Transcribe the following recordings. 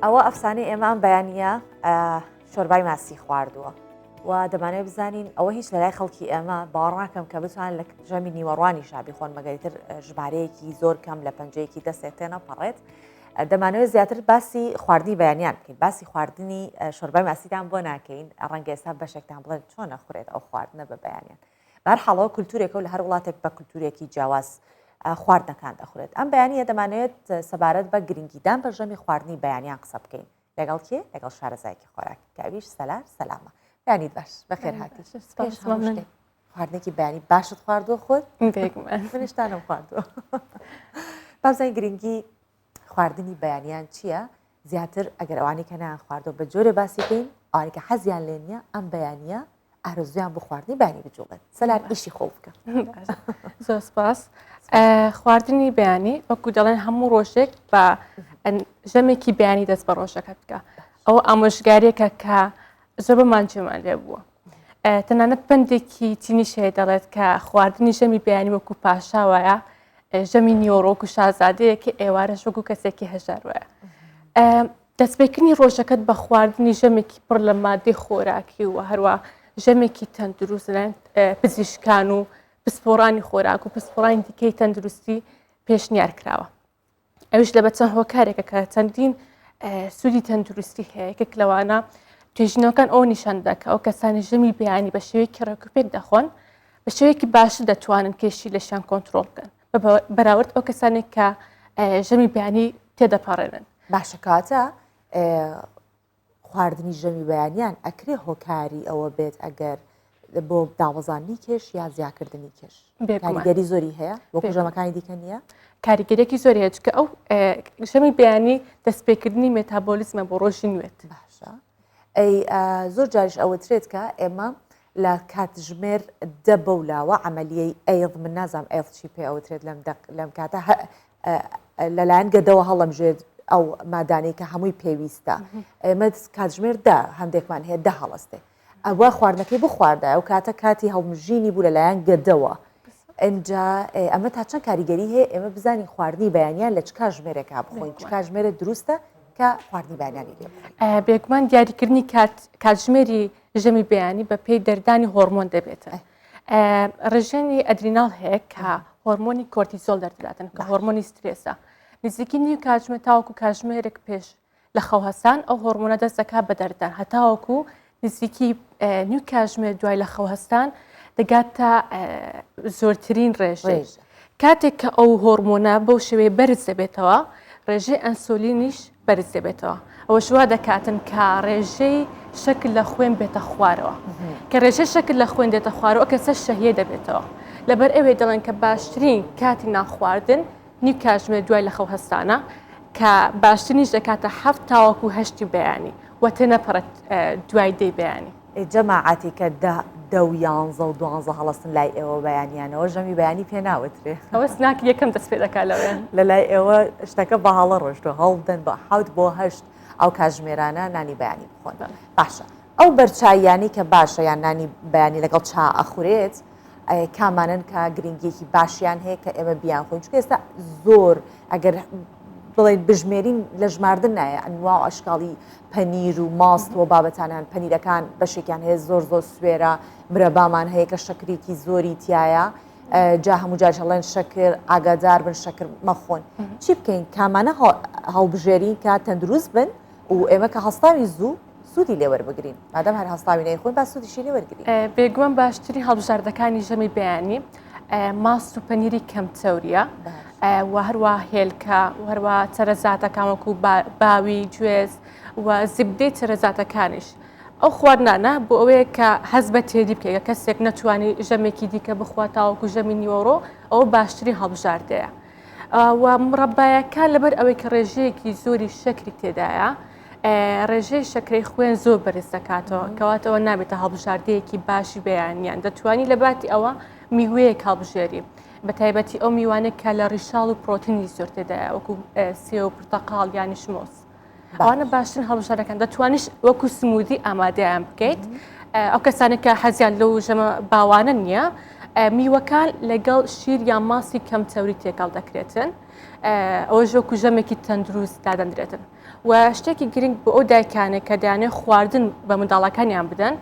ئەوە ئەفسانەی ئێمە ئەم بەیانە شۆربای ماسی خواردووە و دەمانێت بزانین ئەوە هیچ لەلای خەڵکی ئێمە باڕاکەم کە بتوان لە ژەمی نیوەڕوانی شابی خۆن مەگەریتر ژمارەیەکی زۆر کەم لە پەنجەیەکی دەستێت تێنە پەڕێت دەمانەوە زیاتر باسی خواردنی بەیانیان بکەین باسی خواردنی شۆربای ماسیدان بۆ ناکەین ڕەنگە ئێستا بەشێکتان بڵێن چۆن نەخورێت ئەو خواردنە بە بەیانیان بەهەرحاڵ ئەوە کولتوورێکە و لە هەر وڵاتێک بە کولتوورێکی جیاواز خواردنەکان دەخورێت ئەم بەیانە دەمانەوێت سەبارەت بە گرنگیدان بە ژەمی خواردنی بەیانیان قسە بکەین لەگەڵ کێ لەگەڵ شارەزایکی خۆراک کاویش سەلار سەلامە بەیانیت باش بەخێر هاتی خواردنێکی بەیانی باشت خواردووە خۆت منشتانم خواردووە بازای گرنگی خواردنی بەیانیان چییە زیاتر ئەگەر ئەوانی کە نان خواردەوە بە جۆرە باسی بکەین ئەوانی کە حەزیان لێ نییە ئەم بەیانە ئارزویان بۆ خواردنی بانی بجوڵێت سەلار ئیشی خۆ بکە زۆر سپاس خواردنی بەیانی وەکو دەڵێن هەموو ڕۆژێک بە ژەمێکی بەیانی دەست بە ڕۆژەکە بکە ئەو ئامۆژگاریەکە کە زۆر بەمان جێمان لێ بووە تەنانەت پندێکی چینیش هەیە دەڵێت کە خواردنی ژەمی بەیانی وەکو پاشا وایە ژەمی نیۆڕۆک و شازادەیەکە ئێوارەش وەکو کەسێکی هەژار وایە دەستپێکردنی ڕۆژەکەت بە خواردنی ژەمێکی پڕ لە مادەی خۆراکی و هەروە ژەمێکی تەندروست لەن پزیشکان و پسپۆڕانی خۆراک و پسپۆڕانی دیکەی تەندروستی پێشنیار کراوە ئەوش لە بە چەند هۆکارێکە کە چەندین سوودی تەندروستی هەیە یەکێک لەوانە توێژینەوەکان ئەو نیشاندا کە ئەو کەسانی ژەمی بیانی بە شێوەیەکی ڕێکوپێک دەخۆن بە شێوەیەکی باش دەتوانن کێشی لەشیان کۆنتترۆل بکەن بەراورد ئەو کەسانێک کە ژەمی بیانی تێدەپەڕێنن باشەکاتە خواردنی ژەمی بەیانیان ئەکرێ هۆکاری ئەوە بێت ئەگەر بۆ دابەزاندنی کێش یا زیاکردنی کێش کاریگەری زۆری هەیە بۆ ژەمەکانی دیکە نییە کاریگەرێکی زۆر هەیە چکە ئەو ژەمی بەیانی دەستپێکردنی مێتابۆلیزمە بۆ ڕۆژی نوێت باشە ئەی زۆر جاریش ئەوەترێت کە ئێمە لە کاتژمێر دە بەولاوە ئەعملیەی ئەیڵ من نازام ئەڵ چی پێ ئەوترێت لەم لەم کاتە لەلایەن گەدەوە هەڵەمژێت ئەو مادانەی کە هەمووی پێویستە ئێمە کاتژمێر دە هەندێکمان هەیە دە هەڵستێ ئەوە خواردنەکەی بخواردە ئەو کاتە کاتی هەڵمژینی بوو لەلایەن گەدەوە ئەجا ئەمە تا چەند کاریگەری هەیە ئێمە بزانین خواردنی بەیانیان لە چ کاژمێرێکا بخۆین چ کاژمێرە دروستە کە خواردنی بەیانانی بێگومان دیاریکردنی کاتژمێری ژەمی بەیانی بە پێی دەردانی هۆرمۆن دەبێتە. ڕژێنی ئەدریناڵ هەیە کە هۆرمۆنی کۆرتیزۆل دەردەداتن کە هۆرمۆنی سترێسە نزیکی نیو کاتژمە تاوەکو کاژمێرێک پێش لە خەوهستان ئەو هۆرمۆنە دەستەکە بە دەردان هەتاوەکو نزیکی نیو کاژمێر دوای لە خەوهستان دەگات تا زۆرترین ڕێژێژ کاتێک کە ئەو هۆرمۆنە بەو شێوەیە بەرز دەبێتەوە ڕێژەی ئەنسۆلینیش بەرز دەبێتەوە ئەوەش وا دەکاتن کە ڕێژەی شەکر لە خوێن بێتە خوارەوە کە ڕێژەی شەکر لە خوێن دێتە خوارەوە کەسە شەهیە دەبێتەوە لەبەر ئەوێ دەڵێن کە باشترین کاتی ناخواردن نی کاژمێر دوای لە خەو هەستانە کە باشترینیش دەکاتە هەفت تاوەکو هەشتی بەیانی و تێنەپەڕێت دوای دەی بەیانی ئێ جەماعەتی کە دە دە و یانزە و دوانزە هەڵەسن لای ئێوە بەیانیانەوە ژەمی بەیانی پێ ناوترێ ئەوە سناک یەکەم دەست پێ دەکا لەوێن لە لای ئێوە شتەکە بە هەڵە ڕۆشتوە هەڵدەن بە حوت بۆ هەشت ئەو کاژمێرانە نانی بەیانی بخۆن باشە ئەو بەرچاییانی کە باشە یان نانی بەیانی لەگەڵ چا ئەخورێت کامانن کە گرنگیەکی باشیان هەیە کە ئێمە بیان خۆین چکە ئێستا زۆر ئەگەر بڵێن بژمێرین لە ژماردن نایە ئەنوا و ئەشکاڵی پەنیر و ماست و بابەتانان پەنیرەکان بەشێکیان هەیە زۆر زۆر سوێرە مرەبامان هەیە کە شەکرێکی زۆری تایە جا هەموو جار هەڵێن شەکر ئاگادار بن شەکر مەخۆن چی بکەین کامانە هەڵبژێری کە تەندروست بن و ئێمە کە هەستاوی زوو سوودی لێ وەربگرین مادەم هەر هەستاوی نەی خۆی با سوودیشی لێ وەرگری بێگووەم باشترین هەڵبژاردەکانی ژەمی بەیانی ماست و پەنیری کەم چەوریە و هەروە هێلکە هەروە چەرەزاتەکان وەکو باوی گوێز و زیبدەی چەرەزاتەکانیش ئەو خواردنانە بۆ ئەوەیە کە هەز بە تێری بکەیە کەسێک نەتوانانی ژەمێکی دیکە بخوا تاوەکو ژەمی نیوەڕۆ ئەو باشتری هەڵبژاردەیە و مڕەبایەکە لەبەر ئەوەی کە ڕێژەیەکی زۆری شەکری تێدایە ڕێژەی شەکرەی خوێن زۆر بەرز دەکاتەوە کەواتەوە نابێتە هەڵبژاردەیەکی باشی بەیانیان دەتوانی لە باتی ئەوە میوەیە کاڵبژێری بە تایبەتی ئەو میوانێک کە لە ڕیشاڵ و پرۆتنی زۆر تێدایە وەکو سێ و پرتەقاڵ یانی شمۆس ئەوانە باشترین هەڵبژارەکان دەتوانیش وەکو سمودی ئامادەیان بکەیت ئەو کەسانە کە حەزیان لەو ژەمە باوانە نییە میوەکان لەگەڵ شیر یان ماسی کەم چەوری تێکەڵ دەکرێتن ئەوە ژۆکو ژەمێکی تەندروست دادەندرێتن و شتێکی گرنگ بۆ ئەو دایکانە کە دەیانێت خواردن بە منداڵەکانیان بدەن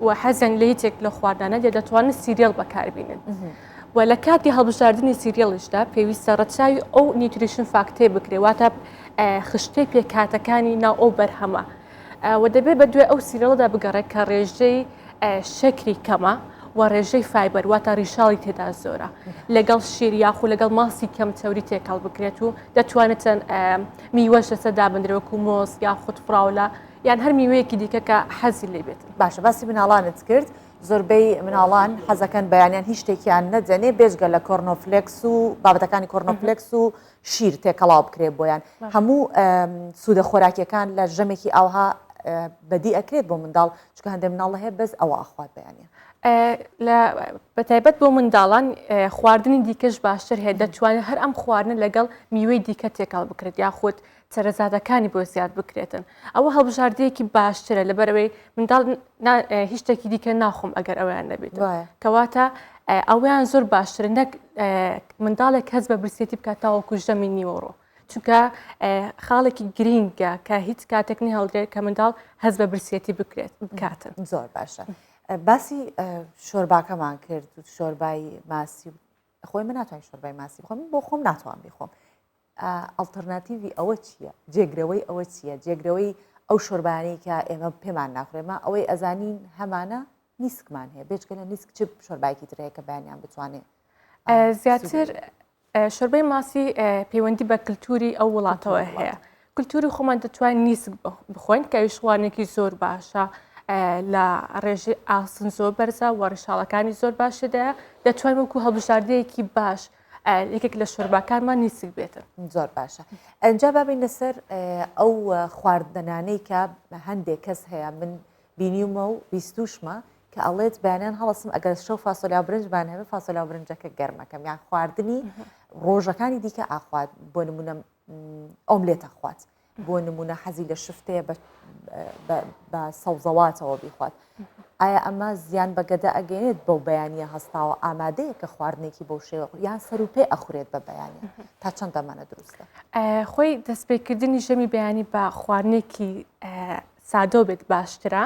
و حەزیان لە هیچێک لە خواردانە دێ دەتوانن سیریەل بەکاربینن. و لە کاتی هەڵبژاردننی سیریەڵیشدا پێویستە ڕەچاوی ئەو نیوتریشن فاکتەی بکرێ واتە خشتەی پێکاتەکانی ناو ئەو بەرهەمە و دەبێت بە دوێ ئەو سیرەڵدا بگەڕێت کە ڕێژەی شەکری کەمە و ڕێژەی فایبەر واتە ڕیشاڵی تێدا زۆرە لەگەڵ شیر یاخو لەگەڵ ماسی کەم چەوری تێکەڵ بکرێت و دەتوانێتن میوەش لەسەر دابندرێ وەکو مۆز یاخود فراولە یان هەر میوەیەکی دیکە کە حەزی لێ بێت باشە باسی مناڵانت کرد زۆربەی مناڵان حەزەکەن بەیانیان هیچ شتێکیان نەدەنێ بێژگە لە کۆرنۆفلکس و بابەتەکانی کۆرنۆفلکس و شیر تێکەڵاو بکرێ بۆیان هەموو سوودە خۆراکیەکان لە ژەمێکی ئاوها بەدی ئەکرێت بۆ منداڵ چکە هەندێک مناڵ هەیە بەس ئەوە ئاخوات بەیانە بەتایبەت بۆ منداڵان خواردنی دیکەش باشتر هەیە دەتوانێت هەر ئەم خواردنە لەگەڵ میوەی دیکە تێکەڵ بکرێت یاخود چەرەزادەکانی بۆ زیاد بکرێتن ئەوە هەڵبژاردەیەکی باشترە لەبەرەوەی منداڵ هیچ شتێکی دیکە ناخۆم ئەگەر ئەویان نەبێت کەواتە ئەویان زۆر باشتر نەک منداڵێک کەس بە برسێتی بکات تاوەکو ژەمی نیوەڕۆ چونکە خاڵێکی گرینگە کە هیچ کاتێک نهێڵدرێت کە منداڵ هەز بە برسیەتی بکرێت بکاتن زۆر باشە باسی شۆرباکەمان کرد و شۆربای ماسی خۆی من ناتوان شۆربای ماسی بخۆم بۆ خۆم ناتوان بیخۆم ئەلتەرناتیوی ئەوە چییە جێگرەوەی ئەوە چییە جێگرەوەی ئەو شۆربانەی کە ئێمە پێمان ناخورێمە ئەوەی ئەزانین هەمانە نیسکمان هەیە بێچکە لە نیسک چ شۆربایکی ترەیە کە بەیانیان بتوانێت زیاتر شۆربای ماسی پەیوەندی بە کللتوری ئەو وڵاتەوە هەیە کللتوری خۆمان دەتوان نیسک بخۆین کە ویشوانێکی زۆر باشە لە ڕێژی ئاسن زۆر بەرزە و ڕیشاڵەکانی زۆر باشێدا دەتوان وەکو هەڵبژاردەیەکی باش یەکێک لە شەرباکانمان نیسک بێتن زۆر باشە ئەجا بابین لەسەر ئەو خواردنانەی کە هەندێک کەس هەیە من بینیومە و بیستوشمە کە ئەڵێت بەیانیان هەڵەسم ئەگەر شەو فاسۆلیا برنجمان هەبێت فاسۆلا و برنجەکە گەرمەکەم یان خواردنی ڕۆژەکانی دیکە ئاخوات بۆ نمونە ئەوم لێ تەخوات بۆ نمونە حەزی لە شفتەیە بە سەوزەواتەوە بیخوات ئایا ئەمە زیان بەگەدە ئەگەێت بەو بەیانە هەستاوە ئامادەیە کە خواردنێکی بەو شێوە یان سەر و پێ ئەخورێت بە بەیانە تا چەند دەمانە دروستە خۆی دەستپێکردنی ژەمی بەیانی بە خواردنێکی سادەو بێت باشترە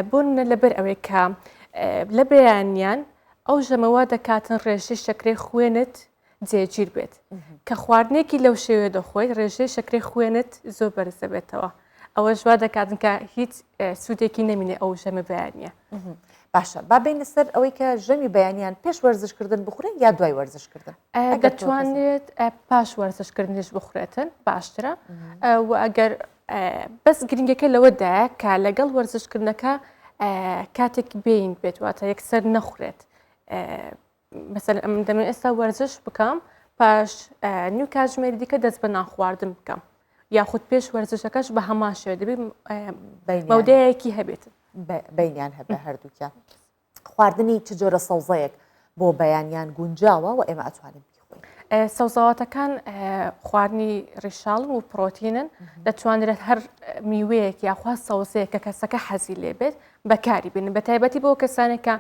بۆنە لەبەر ئەوەی کە لە بەیانیان ئەو ژەمەوە دەکاتن ڕێژەی شەکرەی خوێنت جێگیر بێت کە خواردنێکی لەو شێوێ دەخۆی ڕێژەی شەکرەی خوێنت زۆر بەرزەبێتەوە ئەوە ژوا دەکاتن کە هیچ سوودێکی نەمینێ ئەو ژەمە بەیانە باشە با بین سەر ئەوەی کە ژەمی بەیانیان پێش وەرزشکردن بخورن یا دوای وەرزشکردن دەتوانێت پاش وەرزشکردنیش بخورێتن باشترە و ئەگەر بەس گرنگەکە لەوەدایە کە لەگەڵ وەرزشکردنەکە کاتێک بینگ بێت واتە یەکسەر نەخورێت مەسەر ئەم دەمە ئێستا وەرزش بکەم پاش نیو کاتژمێری دیکە دەست بە ناخواردن بکەم یاخود پێش وەرزشەکەش بە هەمان شێ دەبێت بەودەیەکی هەبێت بینیان هەبێ هەردووکیان خواردنی چ جۆرە سەوزەیەک بۆ بەیانیان گونجاوە و ئێمە ئەتوانین بیخۆین سەوزەواتەکان خواردنی ڕیشاڵ و پرۆتینن دەتوانرێت هەر میوەیەک یاخوا سەوزەیە کە کەسەکە حەزی لێ بێت بەکاری بن بە تایبەتی بۆ کەسانێکە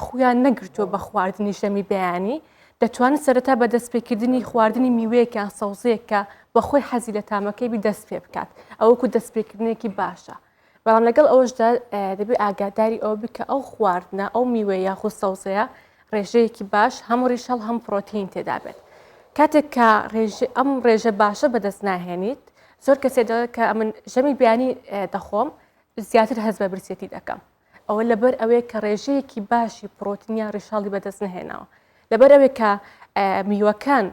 خویان نەگرتووە بە خواردنی شەمی بەیانی دەتوانن سەرەتا بە دەستپێکردنی خواردنی میوەیەکیان سەوزەیەکە بەخۆی حەزی لە تامەکەی بی دەست پێ بکات ئەوەکو دەستپێکردنێکی باشە بەڵام لەگەڵ ئەوەشدا دەبێت ئاگاداری ئەوە بکە ئەو خواردنە ئەو میوە یاخود سەوزەیە ڕێژەیەکی باش هەم ڕیشەڵ هەم پرۆتین تێدابێت کاتێک کە ئەم ڕێژە باشە بەدەست ناهێنیت زۆر کەسێ دەڵێت کە ئەمن ژەمی بیانی دەخۆم زیاتر هەز بە برسێتی دەکەم ئەوە لەبەر ئەوەیە کە ڕێژەیەکی باشی پرۆتینیا ڕیشاڵی بەدەست نهێناوە لەبەر ئەوەی کە میوەکان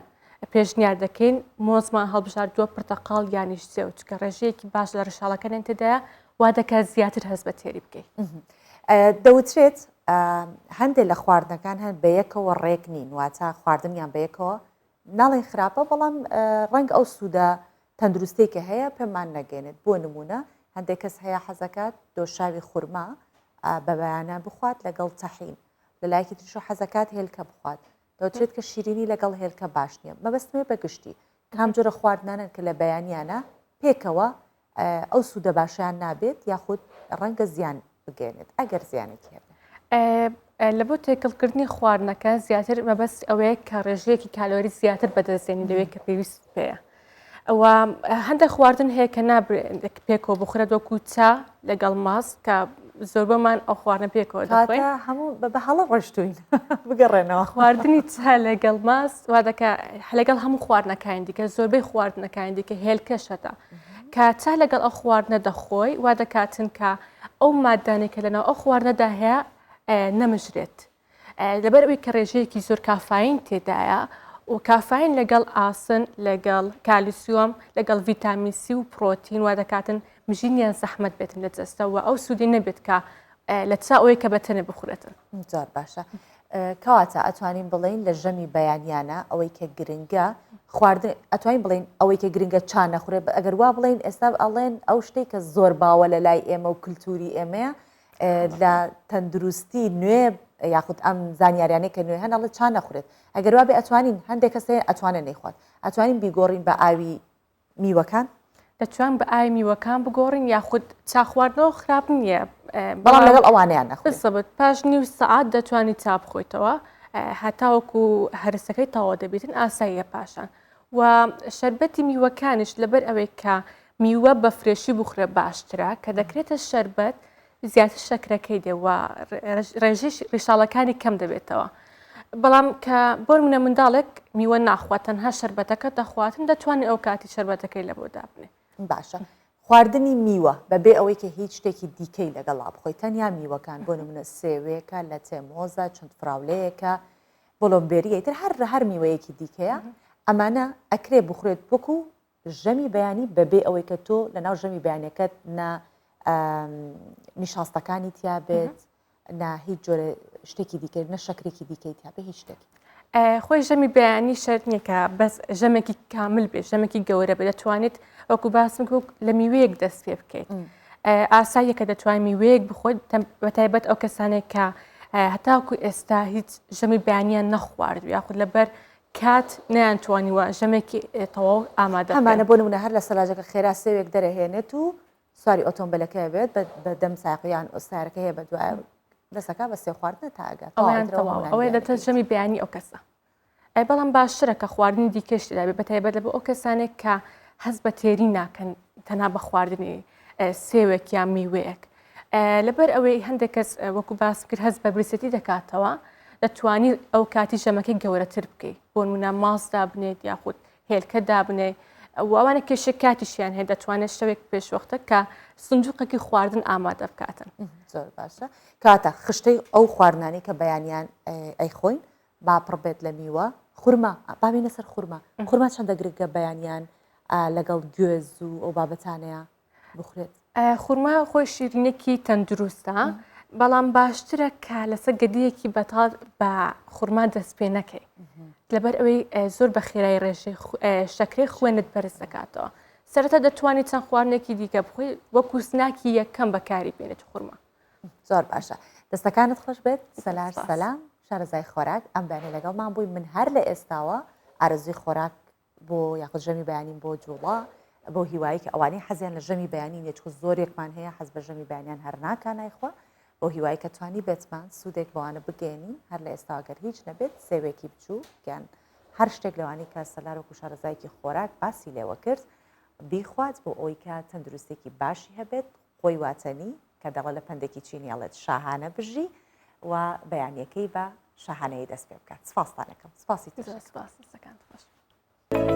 پێشنیار دەکەین مۆزمان هەڵبژاردووە پرتەقاڵ یانیش سێو چکە ڕێژەیەکی باش لە ڕشاڵەکەیان تێدایە وا دەکات زیاتر هەست بە تێری بکەیت دەوترێت هەندێک لە خواردنەکان هەن بە یەکەوە ڕێک نین واتە خواردنیان بە یەکەوە ناڵێن خراپە بەڵام ڕەنگ ئەو سوودە تەندروستەی کە هەیە پێمان نەگەێنێت بۆ نمونە هەندێک کەس هەیە حەزەکات دۆشاوی خورما بە بەیانە بخوات لەگەڵ تەحین لە لایەکی تریشەوە حەزەکات هێلکە بخوات دەوترێت کە شیرینی لەگەڵ هێلکە باش نییە مەبەستمێ بە گشتی کام جۆرە خواردنانن کە لە بەیانیانە پێکەوە ئەو سوودە باشیان نابێت یاخود ڕەنگە زیان بگەێنێت ئەگەر زیانێکی هەبێت لە بۆ تێکەڵکردنی خواردنەکە زیاتر مەبەست ئەوەیە کە ڕێژەیەکی کالۆری زیاتر بەدەستێنی لەوەیە کە پێویست پێەیە وە هەندێک خواردن هەیە کە نابێت پێکەوە بخورێت وەکو چا لەگەڵ ماست کە زۆربەمان ئەو خواردنە پێکەوە دەخۆین هەموو بە هەڵە ڕۆشتوین بگەڕێنەوە خواردنی چا لەگەڵ ماست وا دەکە لەگەڵ هەموو خواردنەکانی دیکە زۆربەی خواردنەکانی دیکە هێلکەشەتە کە چا لەگەڵ ئەو خواردنە دەخۆی وا دەکاتن کە ئەو مادانێکە لەناو ئەو خواردنەدا هەیە نەمژرێت لەبەر ئەوی کە ڕێژەیەکی زۆر کافاین تێدایە و کافاین لەگەڵ ئاسن لەگەڵ کالیسیۆم لەگەڵ ڤیتامیسی و پرۆتین وا دەکاتن مژینیان زەحمت بێتن لە جەستەوە ئەو سوودی نەبێت کە لە چا ئەوەی کە بەتەنێ بخورێتن زۆر باشە کەواتە ئەتوانین بڵین لە ژەمی بەیانیانە ئەوەی کە گرنگە خواردن ئەتوانین بڵین ئەوەی کە گرنگە چا نەخورێ ئەگەر وا بڵین ئێستا ئەڵێن ئەو شتێک کە زۆر باوە لە لای ئێمە و کللتوری ئێمەیە لە تەندروستی نوێ یاخود ئەم زانیاریانەی کە نوێ هەن ئەڵێ چا نەخورێت ئەگەر وابێ ئەتوانین هەندێک کەس هەیە ئەتوانێ نەیخوات ئەتوانین بیگۆڕین بە ئاوی میوەکان دەتوان بە ئاوی میوەکان بگۆڕین یاخود چا خواردنەوە خراپ نییە بەڵام لەگەڵ ئەوانیان نەخورێت سەبت پاش نیو سەعات دەتوانی چا بخۆیتەوە هەتاوەکو هەرسەکەی تەواو دەبێتن ئاساییە پاشان و شەربەتی میوەکانیش لەبەر ئەوەی کە میوە بە فرێشی بخورە باشترە کە دەکرێتە شەربەت زیاتر شەکرەکەی دێ و ڕێژی ڕیشاڵەکانی کەم دەبێتەوە بەڵام کە بۆر منە منداڵێک میوە ناخوات تەنها شربەتەکە دەخواتن دەتوانێت ئەو کاتی شربەتەکەی لە بۆ دابنێ باشە خواردنی میوە بەبێ ئەوەی کە هیچ شتێکی دیکەی لەگەڵا بخۆی تەنیا میوەکان بۆ نمونە سێوێکە لە تێمۆزە چەند فراولەیەەکە بۆلۆنبێری ئیتر هەر هەر میوەیەکی دیکەیە ئەمانە ئەکرێ بخورێت وەکو ژەمی بەیانی بەبێ ئەوەی کە تۆ لە ناو ژەمی بەیانەکەت نە نیشاستەکانی تیا بێت نە هیچ جۆرە شتێکی دیکە نە شەکرێکی دیکەی تیا بە هیچ شتێک خۆی ژەمی بەیانی شەر نییەکە بەس ژەمێکی کامل بێت ژەمێکی گەورە بێت دەتوانێت وەکو باسم لە میوەیەک دەست پێ بکەیت. ئاساییە کە دەتوانین میوەیەک بخۆین بەتایبەت ئەو کەسانێک کە هەتاکو ئێستا هیچ ژەمی بەیانیان نەخوارد یاخود لەبەر کات نیان توانیوە ژەمێکی تەواو ئامادە ئەمانە بۆ نمونە هەر لە سەلاجەکە خێرا سێوێک دەرەهێنێت و سواری ئۆتۆمبیلەکە بێت بە دەم ساقییان ئۆستارەکە هەیە بە دوایە دەسەکە بە سێ خواردنە تاگە ئەویان تەواو ئەوەی دەتە ژەمی بەیانی ئەو کەسە ئەی بەڵام باشترە کە خواردنی دیکەش تێدا بێت بەتایبەت لە بۆ ئەو کەسانێک کە هەست بە تێری ناکەن تەنها بە خواردنی سێوێک یا میوەیەک لەبەر ئەوەی هەندێک کەس وەکو باس کرد هەست بە برسێتی دەکاتەوە دەتوانی ئەو کاتی ژەمەکەی گەورەتر بکەیت بۆ نمونە ماس دابنێت یاخود هێلکە دابنێ ئەوانە کێشە کاتیشیان هەیە دەتوانێت شتێک پێشوەختە کە سندوقەکی خواردن ئامادە بکاتن زۆر باشە کاتە خشتەی ئەو خواردنانی کە بەیانیان ئەی خۆین با پڕ بێت لە میوە خورما با بینە سەر خورما خورما چەندە گرگە بەیانیان لەگەڵ گوێز و ئەو بابەتانەیە بخورێت خورما خۆی شیرینێکی تەندروستە بەڵام باشترە کە لەسەر گەدیەکی بەتاڵ بە خورما دەست پێ نەکەی لەبەر ئەوەی زۆر بە خێرای ڕێژەی شەکرەی خوێنت بەرز دەکاتەوە سەرەتا دەتوانانی چەند خواردنێکی دیکە بخۆی وەکو سناکی یەکەم بەکاری بێنێت خورما زۆر باشە دەستەکانت خۆش بێت سەلار سەلام شارەزای خۆراک ئەم بەێ لەگەڵمان بووی من هەر لە ئێستاوە ئارزوی خۆراک بۆ یاخود ژەمی بەیانین بۆ جوڵا بۆ هیواییکە ئەوانی حەزیان لە ژەمی بەیانی نێچکو زۆرێکمان هەیە حەز بە ژەمی بەیانیان هەر ناکانایخوا بۆ هیوای کە توانی بێتمان سوودێک بەوانە بگەێنین هەر لە ئێستاگەر هیچ نەبێت سێوێکی بچوو گیان هەر شتێک لەوانی کە سەلار و کوشارەزایکی خۆراک باسی لێوە کرد بیخوات بۆ ئەوی کە تەندروستێکی باشی هەبێت خۆی واتەنی کە دەڵە لە پەندێکی چینی ئەڵێت شاهانە بژی و بەیانیەکەی بە شاهانەیە دەست پێ بکات سپاستانەکەم سپاسی تر سپاس دەستەکانت خۆش.